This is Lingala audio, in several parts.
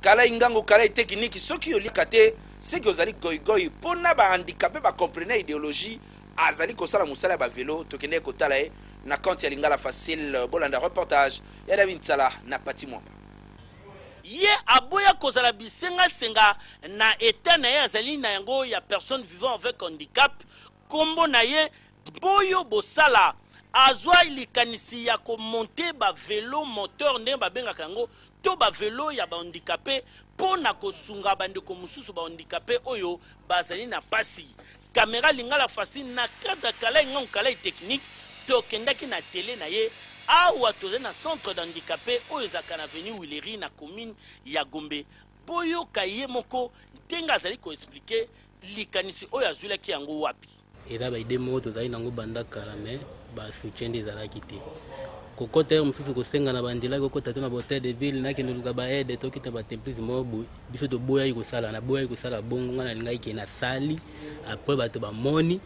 Kalay ngangu kalay tekiniki soki oliaka te seke ozali goy goy po na ba handicape ba comprenait ideologie azali kosala musala ya ba velo tokendeki kotala ye na compte ya lingala facile bolanda reportage ya David Nsala na Patty Mwamba. Ye aboya kozala bisenga senga na etat na ye azali na yango ya personne vivant avec handicap. kombo na ye boyo bosala azua likanisi ya ko monter ba velos moteurs ndenge ba bengaka yango to ba velos ya ba handicapes po na ko sunga ba ndeko mosusu ba handicapes oyo ba zali na pasi camera lingala fasthi na cadre kalay ngangu kalay technique to kendaki na atelier na ye awa tozali na centre de handicapes oyo ezalaka na avenue huilerie na commune ya gombe boyoka ye moko ndenge azali ko expliquer Likanisi oyo azwilaki yango wapi? Eza ba idee moko tozali nango banda kala mais ba soutien nde ezalaki te. Kokota heure mosusu kosenga na banjela kokota to na ba hotel de ville nakende luka ba aide tokita ba templis moko boye biso toboyaki kosala naboyaki kosala bongo ngai nalingaki ke nasali après bato bamoni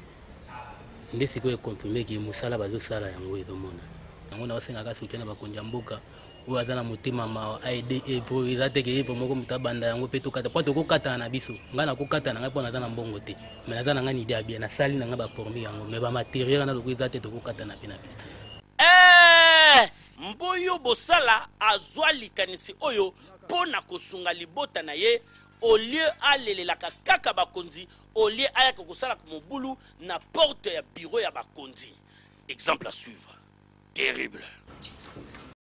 nde sikoyo econfirme ke mosala bazosala yango ezomona yango naosengaka soutien na bakonzi ya mboka oyo aza na motema mawa aide evre eza te ke evre moko moto abanda yango mpe tokata mpo tokokatana na biso ngai nakokata na ngai mpo naza na mbongo te me naza na ngai na ide ya bien nasali na ngai baforme yango me bamateriel wana loko eza te tokokatana mpe na biso eh! mboyo bosala azwa likanisi oyo mpo na kosunga libota na ye olie alelelaka kaka bakonzi olie ayaka kosalaka mobulu na porte ya biro ya bakonzi exemple à suivre terrible